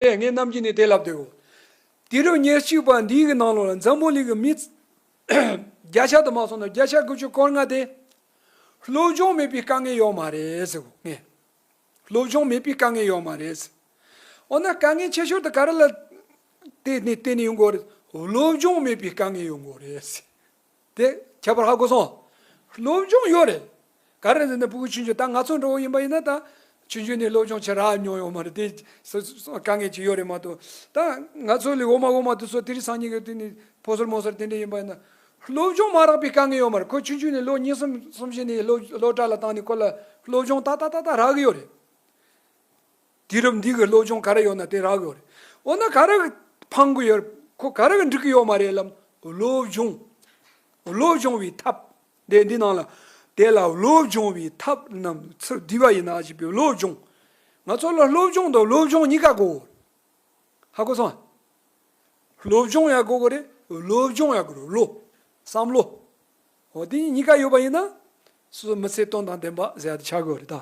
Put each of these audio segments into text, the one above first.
པས་ངེད་རྣམས་ཀྱིས་ནི་དེ་ལབ་བདེའོ། དེ་རུ་ཉེར་གཅིག་པ་འདི་ཡི་ནང་ལོགས་ལ་འཛམ་བུ་གླིང་གི་མི། བརྒྱ་ཆ་དུ་མ་སོང་ན་བརྒྱ་ཆ་དགུ་བཅུ་སྐོར་ལྔ་སྟེ། སློབ་སྦྱོང་མེད་པའི་དཀའ་ངལ་ཡོད་མ་རེད། སློབ་སྦྱོང་མེད་པའི་དཀའ་ངལ་ཡོད་མ་རེད། འོ་ན་དཀའ་ངལ་ཆེ་ཤོས་དེ་ག་རེ་ལ་བརྟེན་ནས་ཡོད་དགོས་རེད། སློབ་སྦྱོང་མེད་པའི་དཀའ་ངལ་ཡོད་དགོས་རེད། དེ་ཁྱད་པར་ཧ་གོ་སོང། སློབ་སྦྱོང་ཡོད་རེད། ག་རེ་རེད་ནི་སྤུ་གུ་ཆུང་ཆུང་ད་ང་ཚོ་འགྲོ་བ་ཡིན་པ་ཡིན་ན་ད་ཆུང་ཆུང་ནས་སློབ་སྦྱོང་བྱེད་རག་མྱོང་ཡོད་མ་རེད་དེ་དཀའ་ངལ་ཅིག་ཡོད་རེད་མ་གཏོགས་ད་ང་ཚོ་ལས་འོག་མ་འོག་མ་དུ་ཚོ་དེ་རིང་སང་ཉིན་གྱི་དུས་ནས་ཕོ་སོར་མོ་སོར་དེ་འདྲ་ཡིན་པ་ཡིན་ན། སློབ་སྦྱོང་མ་རག་པའི་དཀའ་ངལ་ཡོད་མ་རེད་ཁོ་ཆུང་ཆུང་ནས་ལོ་གཉིས་གསུམ་གསུམ་བཞི་ནས་སློབ་གྲྭ་ལ་བཏང་ནས་ཁོ་ལ་སློབ་སྦྱོང་ཏག་ཏག་ཏག་ཏག་རག་གི་ཡོད་རེད། དུས་རབས་འདི་གི་བློ་སྦྱོང་ག་རེ་ཡོད་ན་དེ་རག་གི་རེད། འོ་ན་ག་རེ་འཕང་གི་ཡོད། ཁོ་ག་རེ་འགྲིག་གི་ཡོད་མ་རེད་ལམ། བློ་སྦྱོང། བློ་སྦྱོང་བའི་ཐབས། དེ་འདི་ནང་ལ། དེ་ལ་བློ་སྦྱོང་བའི་ཐབས་རྣམས་ཚུར་བསྡུས་པ་ཡིན་ན་ཅེས་པའི་བློ་སྦྱོང། ང་ཚོ་ལ་བློ་སྦྱོང་དང་བློ་སྦྱོང་གཉིས་ཀ་དགོས་གི་རེད། ཧ་གོ་སོང་ཨ། བློ་སྦྱོང་ཡང་དགོས་གི་རེད། བློ་སྦྱོང་ཡང་དགོས་རེད་བློ། བསམ་བློ། འོ་དེ་གཉིས་གཉིས་ཀ་ཡོད་པ་ཡིན་ན། སོ་སོ་མི་ཚེ་དོན་དང་ལྡན་པ་ཟེར་ཡ་དེ་ཆགས་གི་རེད་ད།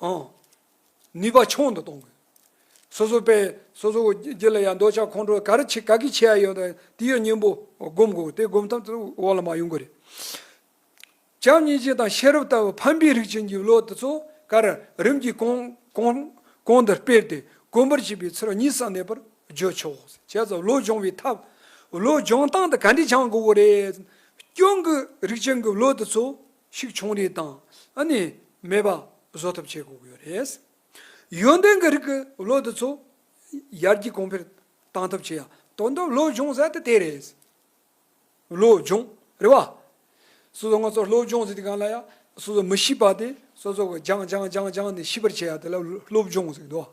ནུས་པ་ཆུང་དུ་གཏོང་དགོས། སོ་སོ་པས་སོ་སོ་རྒྱུད་ལ་ཡང་འདོད་ཆགས་ཁོང་ཁྲོ་ག་རེ་བྱེད་ག་གི་བྱེད་ཡ་ཡོད་དང་དེ་ཡོད་སྙིང་པོ་སྒོམ་དགོས་དེ་སྒོམ་ཐབས་དུ་འོག་ལ་མ་ཡོང་གི་རེད། བྱམས་སྙིང་རྗེ་དང་ཤེས་རབ་ལྟ་བུ་ཕམ་པའི་རིགས་ཀྱི་འཇུག་ལོག་དེ་ཚོ་ག་རེ་རིམ་གྱིས་གོང་དུ་སྤེལ་ཏེ་གོམས་པར་བྱས་པའི་ཚུལ་གཉིས་སམ་མེད་པར་བརྗོད་ཆོག་བྱས་ཙང་བློ་སྦྱོང་བའི་ཐབས་བློ་སྦྱོང་སྟངས་དེ་ག་འདྲས་བྱང་དགོས་པོ་རེད། སྐྱོན་གྱི་རིགས་ཅན་གྱི་བློ་དེ་ཚོ། ཞིག་བྱུང་རེས་དང་ཨ་ནི་མེད་པ་བཟོ་ཐབས་བྱེད་དགོས་ཀྱི་ཡོད་རེད། ཡོན་ཏན་གྱི་རིགས་ཀྱི་བློ་དེ་ཚོ་ཡར་རྒྱས་གོང་འཕེལ་གཏང་ཐབས་བྱེད་ཡ་དོན་དུ་བློ་སྦྱོང་ཟེར་ཏེ་དེ་རེད། བློ་སྦྱོང་རེད་བ། སོ་སོ་ང་ཚོ་བློ་སྦྱོང་ཟེར་ཏེ་གང་ལ་ཡ་སོ་སོ་མི་ཤེས་པ་དེ་སོ་སོ་གི་སྦྱང་སྦྱང་སྦྱང་སྦྱང་ནས་ཤེས་པར་བྱེད་ཡ་དེ་ལ་བློ་སྦྱོང་ཟེར་གི་འདུག་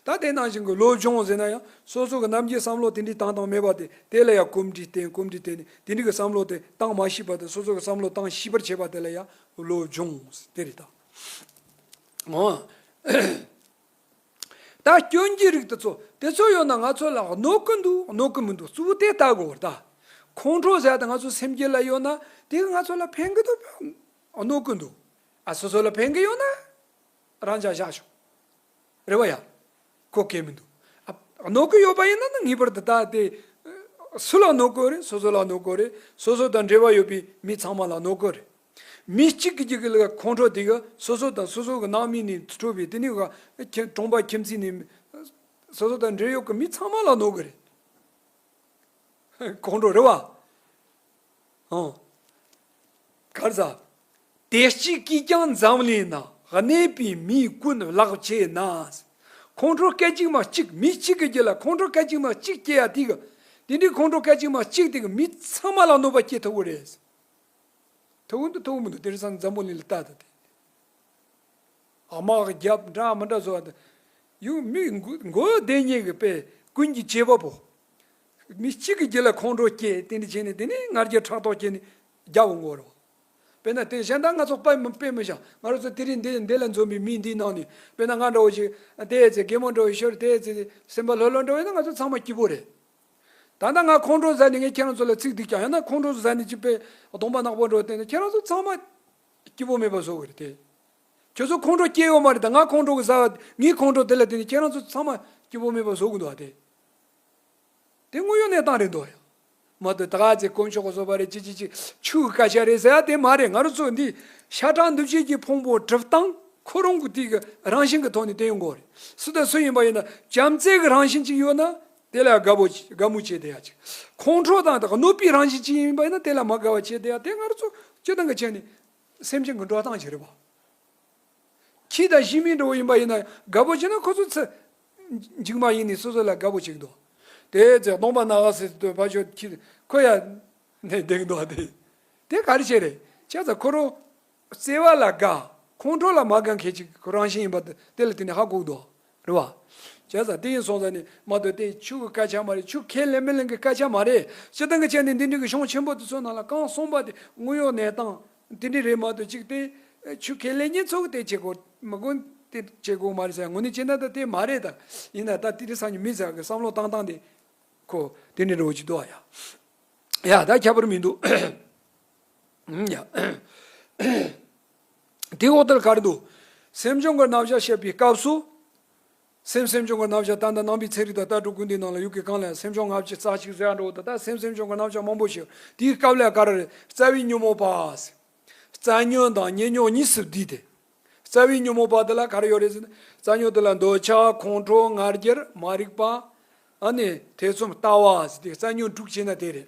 ད་དེ་ནང་བཞིན་གྱི་བློ་སྦྱོང་ཟེར་ན་ཡང་སོ་སོ་གི་རྣམ་རྒྱལ་བསམ་བློ་དེ་འདྲའི་བཏང་བཏང་མེད་པ་དེ་དེ་ལ་ཡ་གོམས་འདྲིས་བརྟེན་གོམས་འདྲིས་བརྟེན་ནས་དེ་འདྲི་གི་བསམ་བློ་དེ་གཏང་མ་ཤེས་པ་དང་སོ་སོ་གི་བསམ་བློ་གཏང་ཤེས་པར་བྱེད་པ་དེ་ལ་ཡང་བློ་སྦྱོང་དེ་རེད་ད། ད་སྐྱོན་གྱི་རིགས་དེ་ཚོ་དེ་ཚོ་ཡོད་ན་ང་ཚོ་ལ་གནོད་གི་འདུག་གནོད་གི་མི་འདུག་གཙོ་བོ་དེ་ལྟ་དགོས་རེད་ད། ཁོང་ཁྲོ་ཟ་དེ་ང་ཚོ་སེམས་སྐྱིད་ལ་ཡོད་ན་དེ་གི་ང་ཚོ་ལ་ཕན་གི་འདུག་གནོད་གི་འདུག་ཨ་སོ་སོ་ལ་ཕན་གི་ཡོད་ན་རང་ཅག་བཞག་ཆོག་རེད་བ་ཡ། ཁོ་སྐད་མི་འདུག། གནོད་དགོས་ཡོད་པ་ཡིན་ན་ངེས་པར་དུ་ད་ལྟའི། སུ་ལ་གནོད་དགོས་རེད་སོ་སོ་ལ་གནོད་དགོས་རེད། སོ་སོ་དང་འབྲེལ་བ་ཡོད་པའི་མི་ཚང་མ་ལ་གནོད་དགོས་རེད། མི་གཅིག་གི་གི་ལ་ཁོང་ཁྲོ་དེ་ག་སོ་སོ་དང་སོ་སོ་གི་ནང་མི་ནས་འཕྲོས་པའི་དེ་ནས་ག་གྲོང་པ་ཁྱིམ་མཚེས་ནས། སོ་སོ་དང་འབྲེལ་ཡོད་ཀྱི་མི་ཚང་མ་ལ་གནོད་དགོས་རེད། ཁོང་ཁྲོ་རེད་བ། ཨང། ག་ཟ། དེ་གཅིག་གིས་ཀྱང་འཛམ་གླིང་ན་གནས་པའི་མི་ཀུན་བརླག་བྱས་ན། ཁོང་ཁྲོ་སྐད་ཅིག་མ་གཅིག་མི་གཅིག་གི་རྒྱུད་ལ་ཁོང་ཁྲོ་སྐད་ཅིག་མ་གཅིག་སྐྱེ་ཡ་དེ་གི་དེ་འདྲའི་ཁོང་ཁྲོ་སྐད་ཅིག་མ་གཅིག་དེ་གི་མི་ཚང་མ་ལ་གནོད་པ་སྐྱེ་ཐུབ་པོ་རེད། ཐུབ་འདུག་ཐུབ་མི་འདུག་དེ་རིང་སང་འཛམ་བུ་གླིང་ལ་ལྟ་ད་དེ། དམག་རྒྱབ་འདྲ་མི་འདྲ་བཟོ་བ་དེ། ཡུ་མི་འགོ་བདེན་གཉིས་ཀྱི་དཔེ་ཀུན་གྱི་བྱེད་པ་པོ། མི་གཅིག་གི་རྒྱུད་ལ་ཁོང་ཁྲོ་སྐྱེས་དེ་འདི་བྱས་ནས་དེ་ནས་ངར་རྒྱུད་ཕྲག་དོག་སྐྱེས་ནས་རྒྱལ་པོ་མགོ་རུ། དཔེར་ན་དེ་གཞན་དག་ང་ཚོ་པད་མོ་པད་མོ་བཞག་ང་རོ་ཚོ་དེ་རིང་འདི་འདི་ལ་འཛོམས་པའི་མི་འདིའི་ནང་ནས་དཔེར་ན་ང་འདྲ་བོ་ཞིག་དེའི་ཚེ་རྒན་མོ་འདྲ་བོ་ཞོར་དེའི་ཚེ་སེམས་པ་ལྷོད་ལྷོད་འདྲ་བས་ན་ང་ཚོ་ཚང་མ་སྐྱིད་པོ་རེད། ད་ལྟ་ང་ཁོང་ཁྲོ་ཟ་ནས་ངས་ཁྱེད་རང་ཚོ་ལ་ཚིག་སྡིག་ཀྱང་ཡང་ན་ཁོང་ཁྲོ་ཟ་ནས་ཅི་དཔེ་སྡོམ་པ་ནག་པོ་འདྲ་བ་བསྟན་ན་ཁྱེད་རང་ཚོ་ཚང་མ་སྐྱིད་པོ་མེད་པ་བཟོ་གི་རེད་དེ། ཁྱོད་ཚོ་ཁོང་ཁྲོ་སྐྱེས་ཡོད་མ་རེད་ད་ང་ཁོང་ཁྲོ་གི་ཟ་བ་ངའི་ཁོང་ཁྲོ་དེ་ལ་བསྟེན་ནས་ཁྱེད་རང་ཚོ་ཚང་མ་སྐྱིད་པོ་མེད་པ་བཟོ་གི་འདུག་བ་དེ། དེ་དངོས་ཡོད་གནས་སྟངས་རེད་འདོད་ཡོད། མ་དོ་ད་ག་ཚེ་དཀོན་མཆོག་ག་ཟོ་པ་རེད་ཅི་ཅི་ཅི་ཆུ་གི་སྐད་ཆ་རེད་ཟེར་ཡ་དེ་མ་རེད་ང་རོ་ཚོ་འདི་ཤ་ཁྲག་འདུ་བྱེད་ཀྱི་ཕུང་པོ་གྲུབ་སྟངས་ཁོ་རང་གི་དུས་ཀྱི་རང་བཞིན་གྱི་ཐོག་ནས་བསྟན་ཡོད་མགོ་རེད་སུ་དང་སུ་ཡིན་པ་ཡིན་ན་བྱམས་བརྩེ་གི་རང་བཞིན་ཅིག་ཡོད་ན་དེ་ལ་དགའ་བོ་དགའ་མོ་བྱེད་བསྡད་ཡ་ཅིག་ཁོང་ཁྲོ་དང་དང་གནོད་པའི་རང་བཞིན་ཅིག་ཡིན་པ་ཡིན་ན་དེ་ལ་མ་དགའ་བ་བྱེད་བསྡད་ཡ་དེ་ང་རོ་ཚོ་སྤྱི་སྟངས་ཀྱི་ཆེད་ནས་སེམས་ཅན་གྱི་འགྲོ་སྟངས་ཅིག་རེད་བ། ཁྱི་དང་ཤིང་མིན་འགྲོ་བོ་ཡིན་པ་ཡིན་ན་དགའ་བོ་བྱེད་ན་ཁོ་ཚོ་ཚེ་འཇིག་མ་ཡིན་ནི་སོ་སོ་ལ་དགའ་བོ་བྱེད་དོ། དེ་ཚེ་སྟོང་པ་ན་ག་སེ་སྟོད་ཕ་ཤོ་ཁྱི་ཁོ་ཡ་ནས་བརྡེག་འདོག་དེ་དེ་ག་རེ་བྱེད་རེ་ཆ་ཚ་ཁོ་རོ། བརྩེ་བ་ལ་དགའ་ཁོང་ཁྲོ་ལ་མ་དགའ་མཁན་གཅིག་ཁོ་རང་བཞིན་ཡིན་པ་དེ་ལ་དེ་ནས་ཧ་གོག་འདོག་རེད་བ། བྱས་ཙང་དེ་ཡིན་སོང་ཙང་ནི་མ་གཏོགས་དེ་ཆུ་གི་སྐད་ཆ་མ་རེད་ཆུ་ཁས་ལེན་མི་ལེན་གི་སྐད་ཆ་མ་རེད་སྤྱི་བཏང་གི་ཆ་ནི་འདི་འདྲི་གི་གཞུང་ཆེན་པོ་དེ་ཚོ་ནང་ལ་གང་གསུངས་པ་དེ་དངོས་ཡོད་གནས་སྟངས་དེ་འདྲི་རེད་མ་གཏོགས་གཅིག་དེ་ཆུ་ཁས་ལེན་ཉེན་ཚོགས་དེ་བྱེད་དགོས་མི་དགོས་དེ་བྱེད་དགོས་མ་རེད་ཟེར་ཡང་ངོ་ནི་ཅི་འདྲ་ད་དེ་མ་རེད་ད་ཡིན་ན་ད་དེ་འདྲི་ས་ནི་མི་ཟེར་གི་བསམ་བློ་བཏང་སྟངས་དེ་ཁོ་དེ་འདྲི་འགྲོ་གི་འདུག་ཡ་ད་ཁྱད་པར་མི་འདུག། དེའི་འོག་ཏུ་ལ་གར་འདུག། སེམས་བྱུང་གི་རྣམ་གཞག་བཤད་པའི་སྐབས་སུ། སེམས་སེམས་བྱུང་གི་རྣམ་གཞག་ཏན་ཏན་སྣང་བའི་ཚེ་རིག་དང་ལྟ་གྲུབ་ཀུན་འདུས་སྣང་ལ་ཡུལ་གྱི་གང་ལ་ཡང་སེམས་བྱུང་སྔ་ཕྱི་རྩ་གཅིག་གཟའ་འགྲོ་དང་ལྟ་སེམས་སེམས་བྱུང་གི་རྣམ་གཞག་མང་པོ་ཞིག་དེའི་སྐབས་ལ་གར། རྩ་བའི་ཉོན་མོངས་པ། རྩ་ཉོན་དང་ཉེ་ཉོག་གཉིས་སུ་བསྡུས་ཏེ། རྩ་བའི་ཉོན་མོངས་པ་དེ་ལ་གར་ཡོད་རེད་ཟེར་ན། རྩ་ཉོན་དེ་ལ་འདོད་ཆགས་ཁོང་ཁྲོ་ངར་འགྱེར་མ་རིག་པ། ཨ་ནི། ཐེ་ཚོམ་ལྟ་བ། ཟེར་ཏེ་རྩ་ཉོན་དྲུག་བྱས་ན་དེ་རེད།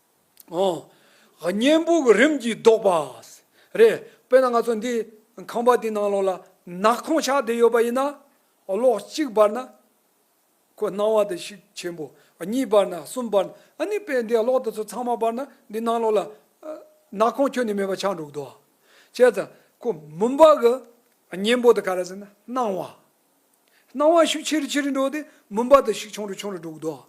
བརྙན་ཕུག་གི་རིམ་གྱིས་བཟློག་པ། རེད། དཔེར་ན་ང་ཚོ་འདི་ཁང་པ་འདི་ནང་ལོགས་ལ་ནག་ཁོང་ཆགས་བསྡད་ཡོད་པ་ཡིན་ན། ལོགས་གཅིག་བར་ན་ཁོ་སྣང་བ་དེ་ཞིག་ཆེན་པོ། གཉིས་བར་ན་གསུམ་བར་ན་ཨ་ནི་དཔེ་འདི་ལོགས་དེ་ཚོ་ཚང་མ་བར་ན་འདི་ནང་ལོགས་ལ་ནག་ཁོང་ཁྱོན་ནས་མེད་པ་ཆགས་འགྲོ་གི་འདུག་བ། བྱས་ཙང་ཁོ་མུན་པ་གི་བརྙན་པོ་དེ་ག་རེ་ཟེར་ན་སྣང་བ། སྣང་བ་ཤུགས་ཆེ་རུ་ཆེ་རུ་འགྲོ་སྟེ་མུན་པ་དུ་ཞིག་ཆུང་རུ་ཆུང་རུ་འགྲོ་གདོད།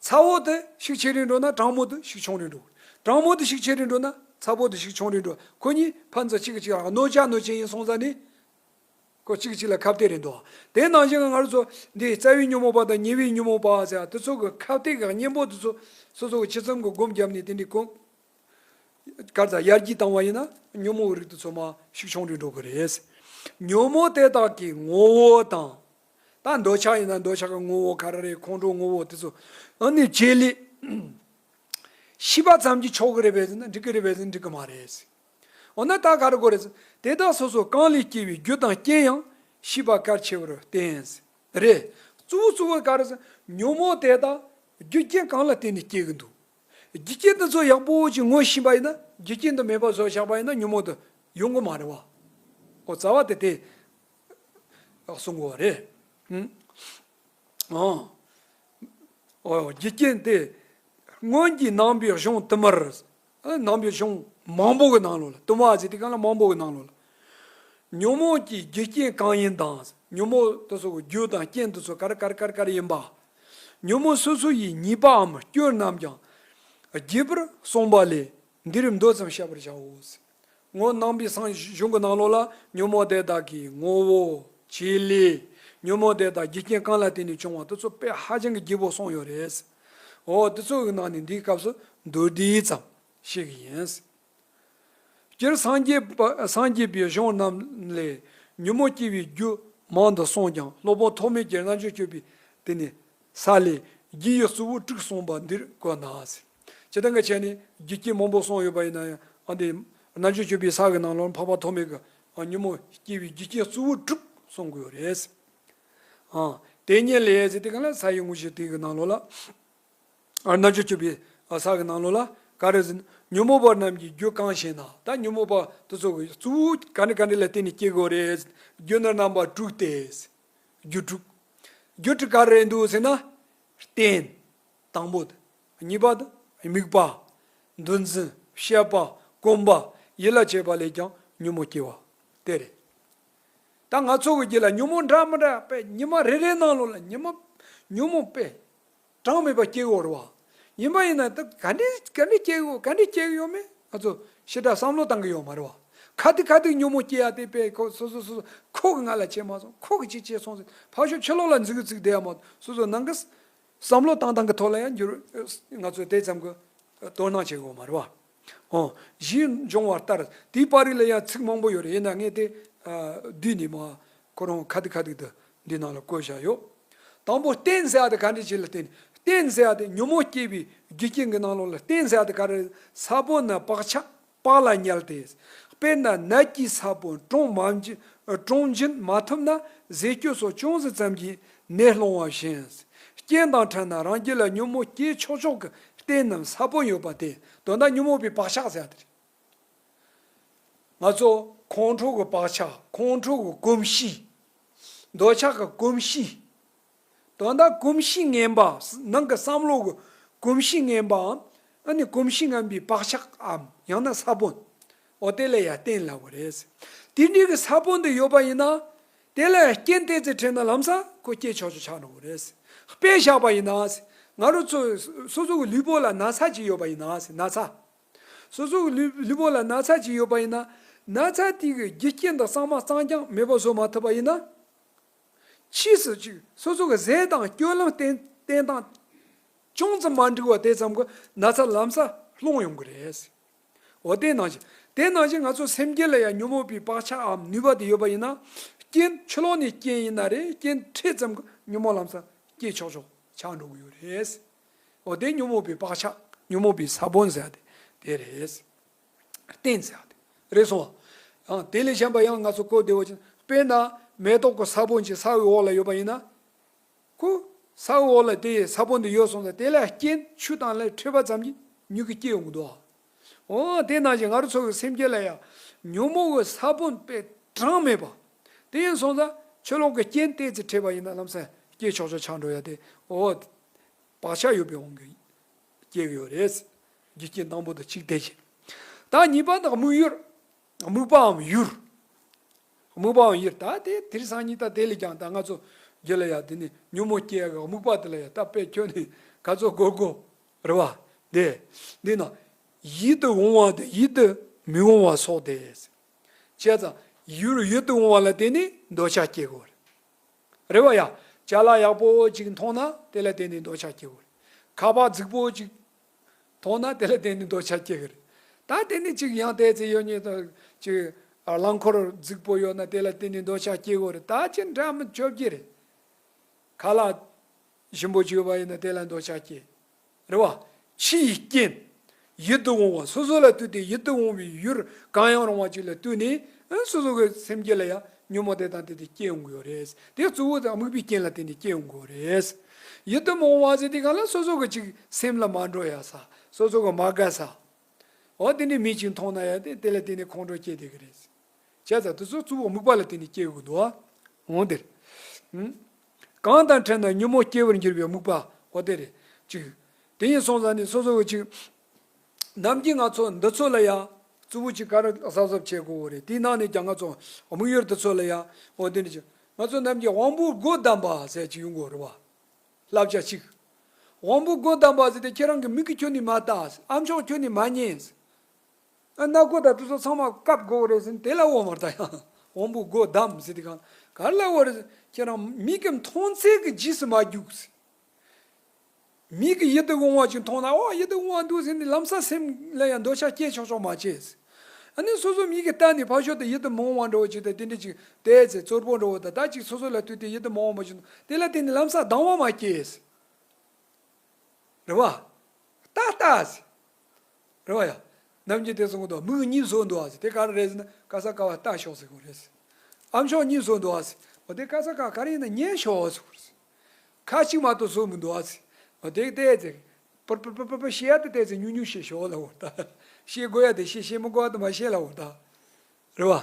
ཚ་བོ་དུ་ཞིག་ཆེ་རུ་འགྲོ་ན་གྲང་མོ་དུ་ཞིག་ཆུང་རུ་འགྲོ། གྲང་མོ་དུ་ཞིག་ཆེ་རུ་འགྲོ་ན་ཚ་བོ་དུ་ཞིག་ཆུང་རུ་འགྲོ་ཁོ་གཉིས་ཕ་མཚོ་གཅིག་གི་གཅིག་རང་གནོད་བྱ་གནོད་བྱེད་ཡིན་སོང་ཙང་ནི། ཁོ་གཅིག་གི་གཅིག་ལ་ཁ་བཏད་རེད་འདུག་དེའི་ནང་བཞིན་སྔར་ཚོ་འདི་རྩ་བའི་ཉོན་མོངས་པ་དང་ཉེ་བའི་ཉོན་མོངས་པ་ཟེར་བ་དེ་ཚོ་གི་ཁ་བཏད་ཀྱི་གཉེན་པོ་དེ་ཚོ་སོ་སོ་གི་ཆེད་ཙམ་གྱི་སྒོམ་བརྒྱབ་ནས་དེ་འདྲའི་ཀུན་དཀར་དང་དབྱར་གྱིས་བཏང་བ་ཡིན་ན་ཉོན་མོངས་རིགས་དུ་ཚོད་མ་ཞིག་ཆུང་དུ་འགྲོ་གི་རེད། ཉོན་མོངས་དེ་དག་གི་ངོ་བོ་དང། ད་འདོད་ཆགས་ཡིན་ན་འདོད་ཆགས་ཀྱི་ངོ་བོ་ག་རེ་རེད་ཁོང་ཁྲོ་ངོ་བོ་དེ་ཚོ་འོན་ནི་བྱེད་ལས། ཤི་བ་ཙམ་གྱིས་ཆོག་གི་རེད་བས་ཟེར་ན་འགྲིག་གི་རེད་བས་ཟེར་ན་འགྲིག་གི་མ་རེད། འོ་ན་ད་ག་རེ་དགོས་རེད་ཟེར་དེ་དག་སོ་སོ་གང་ལས་སྐྱེས་པའི་རྒྱུ་དང་རྐྱེན་ཡང་ཤི་བ་གལ་ཆེ་བར་བསྟན། རེད། གཙོ་བོ་གཙོ་བོ་ག་རེ་ཟེར་ན་ཉོན་མོངས་དེ་དག་རྒྱུ་རྐྱེན་གང་ལ་བརྟེན་ནས་སྐྱེ་གི་འདུག། རྒྱུ་རྐྱེན་འདི་ཚོ་ཡག་པོ་ཅིག་ངོས་བཞིན་པ་ཡིན་ན་རྒྱུ་རྐྱེན་འདི་མེད་པ་བཟོ་ཆགས་པ་ཡིན་ན་ཉོན་མོངས་འདི་ཡོང་གི་མ་རེད་བ། ཨོ་རྩ་བ་དེ་དེ་ཡག་གསུང་གི་བ་རེད། ཨོ་རྒྱུ་རྐྱེན་དེ་སྔོན་གྱི་ནང་པའི་གཞུང་བསྟུད་མར་ནང་པའི་གཞུང་མང་པོ་གི་ནང་ལོ་ལ་བསྟུད་མར་ཟེར་དུས་གང་ལ་མང་པོ་གི་ནང་ལོ་ལ་ཉོན་མོངས་ཀྱི་རྒྱུ་རྐྱེན་གང་ཡིན་དང་ཉོན་མོངས་དེ་ཚོ་རྒྱུ་དང་རྐྱེན་དེ་ཚོ་ག་རེ་ག་རེ་ག་རེ་ག་རེ་ཡིན་པ། ཉོན་མོངས་སོ་སོ་ཡི་ཉེས་པའམ་སྐྱོན་རྣམས་ཀྱང་རྒྱས་པར་གསུངས་པ་ལས་འདིར་མདོ་ཙམ་བཤད་པར་བྱའོ། ངོ་སྣང་བའི་གསང་གཞུང་གི་ནང་ལོགས་ལ་ཉོན་མོངས་དེ་དག་གི་ངོ་བོ་བྱེད་ལས། ཉོན་མོངས་དེ་དག་རྒྱུ་རྐྱེན་གང་ལ་བརྟེན་ནས་བྱུང་བ་དེ་ཚོ་དཔེ་ཧ་ཅང་གི་རྒྱས་པོ་གསུངས་ཡོད་རེད། འོ་དེ་ཚོའི་ནང་ནས་འདིའི་སྐབས་སུ་མདོ་འདི་ཙམ་བཤད་ཀྱི་ཡིན། སྤྱིར་སངས་རྒྱས་པའི་གཞུང་རྣམས་ལས་ཉོན་མོངས་སྐྱེ་བའི་རྒྱུ་མང་དུ་གསུངས་ཀྱང་སློབ་དཔོན་ཐོགས་མེད་ཀྱིས་རྣལ་འབྱོར་སྤྱོད་པའི་དེ་ནས་ས་ལས་རྒྱུ་ཡི་གཙོ་བོ་དྲུག་གསུངས་པ་འདིར་བཀོད་ན། ཇི་ལྟར་འགའ་ཆད་ནས་རྒྱུ་སྐྱེས་མང་པོ་གསུངས་ཡོད་པ་ཡིན་ན་ཡང་འདིར་རྣལ་འབྱོར་སྤྱོད་པའི་ས་གི་ནང་ལོར་འཕགས་པ་ཐོགས་མེད་ཀྱིས་ཉོན་མོངས་སྐྱེ་བའི་རྒྱུ་རྐྱེན་གཙོ་བོ་དྲུག་གསུངས་དགོས་པ་རེད། དེ་ཉིད་ལས། དེ་གང་ལ་ས་ཡི་དངོས་གཞི་དེ་གི་ནང་ལོགས་ལ། རྣལ་འབྱོར་སྤྱོད་པའི་ས་གི་ནང་ལོགས་ལ་ཀཱ་ར་ཟིན། ཉོན་མོངས་པ་རྣམས་ཀྱི་རྒྱུ་གང་ཞེ་ན་ད་ཉོན་མོངས་པ་དུ་ཚོགས་ཀྱི་གཙོ་བོ་ག་ནས་ག་ནས་ལ་བརྟེན་ནས་སྐྱེ་དགོས་རེད་ཟིན་རྒྱུ་ནི་རྣམ་པ་དྲུག་སྟེ། རྒྱུ་དྲུག། རྒྱུ་དྲུག་ག་རེད་འདུག་ཟེར་ན། རྟེན། དང་པོ་དང། གཉིས་པ་དང། དམིགས་པ། འདུལ་འཛིན། བཤད་པ། སྐོམ་པ། ཡིད་ལ་བྱེད་པ་ལས་ཀྱང་ཉོན་མོངས་སྐྱེ་བ། དེ་རེད། ད་ང་ཚོགས་ཀྱི་རྒྱུད་ལ་ཉོན་མོངས་འདྲ་མི་འདྲ་པའི་ཉི་མ་རེ་རེའི་ནང་ལོགས་ལ་ཉི་མ། ཉོན་མོངས་པའི། གྲངས་མེད་པ་སྐྱེ་གི་འོར་བ་ཡིན་པ་ཡིན་ན་ད་ག་འདྲེ་ག་འདྲེ་སྐྱེ་གི་ག་འདྲེ་སྐྱེ་གི་ཡོད་མེད་ང་ཚོ་ཞེ་དྲག་བསམ་བློ་བཏང་གི་ཡོད་མ་རེད་བ། ཁ་ཏི་ཁ་ཏི་ཉོན་མོངས་སྐྱེ་ཡ་དེ་དཔེ་ཁོ་སོ་སོ་སོ་སོ་ཁོ་གི་ང་ལ་བྱས་མ་སོང་ཁོ་གི་ཅིག་བྱས་སོང་ཟེར་ཕག་ཤོ་ཁྱི་ལོག་ལ་འཛིག་གི་འཛིག་བསྡད་ཡ་མ་སོ་སོ་ནང་གི་བསམ་བློ་བཏང་བཏང་གི་ཐོག་ལ་ཡང་འགྱུར་ང་ཚོས་དེ་ཙམ་གི་དོ་སྣང་བྱེད་གི་འོར་མ་རེད་བ། ཧོ། གཞིས་འབྱུང་བ་ལྟར་དེའི་པར་རིས་ལ་ཡང་ཚིག་མང་པོ་ཡོད་རེད་ཡིན་ན་ངས་དེ་བསྡུས་ནས་མ་ཁོ་རང་གི་ཁ་ཐིག་ཁ་ཐིག་དུ་འདིའི་ནང་ལ་བཀོད་བཞག་ཡོད། དང་པོ་རྟེན་གཟའ་ཨ་ཏི་ག་འདྲི་བྱེད་ལ་བརྟེན་ནས་རྟེན་གཟའ་ཨ་ཏི་ཉོན་མོངས་སྐྱེས་པའི་རྒྱུ་རྐྱེན་གྱི་ནང་ལོགས་ལ་རྟེན་གཟའ་ཨ་ཏི་ག་རི་ས་བོན་ནི་བག་ཆགས་བག་ལ་ཉལ་ཏེ། དཔེར་ན་ནད་ཀྱི་ས་བོན་དྲོངས་མ་དྲོངས་འབྱིན་མ་ཐུབ་ན་ཟས་སྐྱོ་སོགས་ཅུང་ཟད་ཙམ་གྱིས་ནད་སློང་བ་བཞིན། རྐྱེན་དང་ཕྲལ་ན་རང་རྒྱུད་ལ་ཉོན་མོངས་སྐྱེས་ཆོག་ཆོག་གི་རྟེན་ནམ་ས་བོན་ཡོད་པ་དེ་དོན་དག་ཉོན་མོངས་པའི་བག་ཆགས་གཟའ་ཨ་ཏི་རེད། ང་ཚོ་ཁོང་ཁྲོ་གི་བག་ཆགས་ཁོང་ཁྲོ་གི་གོམས་གཤིས། འདོད་ཆགས་ཀྱི་གོམས་གཤིས། དོན་དག་གོམས་གཤིས་ངན་པ་ནང་གི་བསམ་བློ་གི་གོམས་གཤིས་ངན་པའམ་ཨ་ནི་གོམས་གཤིས་ངན་པའི་བག་ཆགས་ཨམ་ཡང་ན་ས་བོན་འོ་དེ་ལ་ཡང་བསྟེན་སླ་བོ་རེད། དེ་འདྲའི་གི་ས་བོན་དེ་ཡོད་པ་ཡིན་ན། དེ་ལ་ཡང་རྐྱེན་བལྟས་ཚེ་ཁྲེལ་ན་ལམ་ས་ཁོ་སྐྱེས་ཆོག་ཆོག་ཆགས་འགྲོ་བོ་རེད། དཔེ་བཞག་པ་ཡིན་ན། ང་རོ་ཚོ་སོ་སོ་གི་ལུས་པོ་ལ་ན་ཚ་ཅིག་ཡོད་པ་ཡིན་ན་ན་ཚ། སོ་སོ་གི་ལུས་པོ་ལ་ན་ཚ་ཅིག་ཡོད་པ་ཡིན་ན། ན་ཚ་དེ་གི་རྒྱུ་རྐྱེན་དང་གཙང་མ་གཙང་རྐྱང་མེད་པ་བཟོ་མ་ཐུབ་པ་ཡིན་ན། ཕྱིས་སུ་ཅིག་སོ་སོ་གི་ཟས་དང་སྐྱོ་གླང་བསྟེན་སྟངས་ཅུང་ཙམ་མ་འགྲིག་པ་དེ་ཙམ་གྱི་ན་ཚ་ལམ་སར་སློང་ཡོང་གི་རེད། འོ་དེ་ནང་བཞིན་དེ་ནང་བཞིན་ང་ཚོ་སེམས་སྐྱེད་ལ་ཡང་ཉོན་མོངས་པའི་བག་ཆགས་འམ་ནུས་པ་དེ་ཡོད་པ་ཡིན་ན། རྐྱེན་ཆུ་ལོག་ནས་རྐྱེན་ཡིན་ན་རེ་རྐྱེན་འཕྲད་ཙམ་གྱི་ཉོན་མོངས་ལམ་སར་སྐྱེད་ཆོག་ཆོག་ཆགས་འགྲོ་གི་ཡོད་རེད། འོ་དེ་ཉོན་མོངས་པའི་བག་ཆགས་ཉོན་མོངས་པའི་ས་བོན་ཟེར་ཡ་དེ་དེ་རེད། རྟེན་ཟེར་ཡ་དེ་རེད་སོང་བ། ཡང་དེ་ལས་གཞན་པ་ཡང་ང་ཚོ་གོ་བདེ་བོ་ཅན་དཔེར་ན་མེ་ཏོག་གི་ས་བོན་གྱི་ས་འོག་ལ་ཡོད་པ་ཡིན་ན། ཁོ་ས་འོག་ལ་དེ་ཡི་ས་བོན་དེ་ཡོད་སོང་ཙང་དེ་ལ་རྐྱེན་ཆུ་དང་ལས་འཕྲོས་པ་ཙམ་གྱིས་མྱུ་གུ་སྐྱེ་ཡོང་གི་འདུག་ཨ། འོ་དེ་ནང་བཞིན་ང་རོ་ཚོ་གི་སེམས་སྐྱེ་ལ་ཡང་ཉོན་མོངས་ཀྱི་ས་བོན་པའི་གྲངས་མེད་པ། དེ་ཡིན་སོང་ཙང་ཆོས་ལོག་གི་རྐྱེན་གཏད་ཚེ་ཕྲད་པ་ཡིན་ན་ལམ་སེམས་སྐྱེ་ཆོག་ཆོག་ཆགས་འགྲོ་ཡ་དེ་འོ། བག་ཆགས་ཡོད་པའི་དབང་གིས་སྐྱེ་གི་ཡོད་རེད། རྒྱུ་རྐྱེན་དང་པོ་དང་གཅིག་དེ་བཞིན། ད་གཉིས་པ་དང་དམིགས་ཡུལ། དམིགས་པའམ་ཡུལ། དམིགས་པའམ་ཡུལ་ད་དེ་དེར་སང་ཉིད་ད་དེ་ལས་ཀྱང་ད་ང་ཚོ་རྒྱུད་ལ་ཡང་དེ་ནས་ཉོན་མོངས་སྐྱེ་ཡ་གི་དམིགས་པ་དེ་ལ་ཡང་ད་དཔེ་ཁྱོད་ནི་ག་ཚོད་དགོས་དགོས། རེ་བ། འདི་ན་ཡིད་དུ་འོང་བ་དང་ཡིད་དུ་མི་འོང་བ་སོགས་ཏེ། བྱས་ཙང་ཡུལ་རེ་ཡིད་དུ་འོང་བ་ལ་བརྟེན་ནས་འདོད་ཆགས་སྐྱེ་དགོས། རེ་བ། ཡང་ལྕགས་ལ་ཡག་པོ་ཅིག་མཐོང་ན་དེ་ལ་བརྟེན་ནས་འདོད་ཆགས་སྐྱེ་དགོས། ཁ་བ་རྫིག་པོ་ཅིག་མཐོང་ན་དེ་ལ་བརྟེན་ནས་འདོད་ཆགས་སྐྱེ་དགོས། ད་དེ་ནས་ཅིག་ཡང་བལྟས་ཚེ་ཡོད་ཉེས་དང་ཅིག་རླངས་འཁོར་རྫིག་པོ་ཡོད་ན་དེ་ལ་བརྟེན་ནས་འདོད་ཆགས་སྐྱེ་དགོས། ད་ཅི་འདྲ་མི་ཅོ་བརྒྱད་རེད། ག་ལ་བཞི་པོ་བརྗོད་པ་ཡིན་ན་དེ་ལ་འདོད་ཆགས་སྐྱེ། རེ་བ། ཕྱི་ཡི་རྐྱེན། ཡིད་དུ་འོང་བ་སོ་སོ་ལ་ལྟོས་ཏེ་ཡིད་དུ་འོང་བའི་ཡུལ་གང་ཡང་རུང་བ་ཅིག་ལ་ལྟོས་ནས་སོ་སོ་གི་སེམས་བསྐྱེད་ལ་ཡང་ཉོན་མོངས་དེ་དང་དེ་དེ་སྐྱེ་འོང་གི་རེད། དེ་གཙོ་བོ་དང་དམིགས་པའི་རྐྱེན་ལ་བརྟེན་ནས་སྐྱེ་འོང་གི་རེད། ཡིད་དུ་འོང་བ་ཟེར་དེ་ག་ལ་སོ་སོ་གི་ཅིག་སེམས་ལ་མ་འགྲོ་ཡ་ས་སོ་སོ་གི་མ་དགའ་ས། འོ་དེ་འདྲའི་མི་ཅིག་མཐོང་ན་ཡ་དེ་དེ་ལ་བརྟེན་ནས་ཁོང་ཁྲོ་སྐྱེ་བསྡད་གི་རེད། བྱས་ཙང་དེ་ཚོ་གཙོ་བོ་དམིགས་པ་ལ་བརྟེན་ནས་སྐྱེ་དགོས་འདུག་ཨང། འདིར། གང་དང་ཕྲད་ན་ཉོན་མོངས་སྐྱེ་བར་འགྱུར་བའི་རྨུགས་པ་འོ་དེ་རེད། ཅིག། དེ་ཡིན་སོང་ཟ་ནི་སོ་སོ་འོ་ཅིག། ནམ་གྱི་ང་ཚོ་འདི་ཚོ་ལ་ཡང། རྩུབ་བོ་ཅིག་ཁ་ར་གཟབ་གཟབ་བྱེད་དགོས་འོ་རེད་དེའི་ནང་ནས་ཀྱང་ང་ཚོ་དམིགས་ཡུལ་འདི་ཚོ་ལ་ཡང་འོ་དེ་ནི་ཅིག། ང་ཚོ་རྣམས་ཀྱིས་དབང་པོའི་སྒོ་བསྡམས་པ་ཟེར་ཅིག་ཡོང་དགོས་རེད་བ། བསླབ་བྱ་ཅིག། དབང་པོའི་སྒོ་བསྡམས་པ་ཟེར་ཏེ་ཁྱེད་རང་གི་མིག་གིས་ཁྱོད་ནི་མ་བལྟ། ཨ་མཆོག་ཁྱོད་ནི་མ་མཉན། ཨ་ནག་པོ་དང་ཏུ་སོ་ཚང་མ་སྐབས་དགོ་བོ་རེད་ཟེར་དེ་ལ་འོ་མར་ད་ཡང་འོམ་བུ་སྒོ་བསྡམས་ཟེར་དེ་གང་གར་ལ་འོ་རེད་ཟེར་ཁྱེད་རང་མིག་གི་མཐོང་ཚད་ཀྱི་རྗེས་སུ་མ་རྒྱུགས་ཟེར། མིག་གི་ཡིད་དུ་འོང་བ་ཅིག་མཐོང་ན་ཨོ་ཡིད་དུ་འོང་བ་འདུག་ཟེར་ནས་ལམ་སང་སེམས་ལ་ཡང་འདོད་ཆགས་སྐྱེས་ཆོག་ཆོག་མ་བྱེད་ཟེར། ཨ་ནི་སོ་སོའི་མིག་གི་ལྟ་ནས་ཕ་ཞོལ་དུ་ཡིད་དུ་མི་འོང་བ་འགྲོ་བ་ཅིག་དང་དེ་འདྲ་ཅིག་བལྟས་ཟེར་གཙོར་པོ་འགྲོ་བ་དང་དག་ཅིག་སོ་སོ་ལ་ལྟོས་ཏེ་ཡིད་དུ་མི་འོང་བ་ཅིག་འདུག་དེ་ལ་བལྟས་ནས་ལམ་སང་སྡང་བ་མ་སྐྱེས་ཟེར། རེ་བ། རྟགས་རྟགས་ཟེར། རེད་བ་ཡ། རྣམ་རྒྱལ་དེ་གསུང་གི་འདུག་མིག་གཉིས་བཟོ་འདུག་ཟེར་དེ་ག་རེ་རེད་ཟེར་ན་ཀ་ས་ཀ་བ་ལྟ་ཤོག་ཟེར་གོ་རེད་ཟེར། ཨ་མཆོག་གཉིས་བཟོ་འདུག་ཟེར་མོ་དེ་ཀ་ས་ཀ་ག་རེ་ཡིན་ན་ཉན་ཤོག་ཟེར་གོ་རེད་ཟེར། ཁ་གཅིག་མ་གཏོགས་བཟོ་མི་འདུག་ཟེར་མོ་དེ་བལྟས་ཚེ། པར་པར་པར་པར་པར་ཤེས་ཡ་དེ་བལྟས་ཚེ་ཉུག་ཉུག་ཤེས་ཤོག་ལ་འོ་ད། ཤེས་དགོས་ཡ་དེ་ཤེས་ཤེས་མི་དགོས་ཡ་དེ་མ་ཤེས་ལ་འོ་ད། རེད་བ།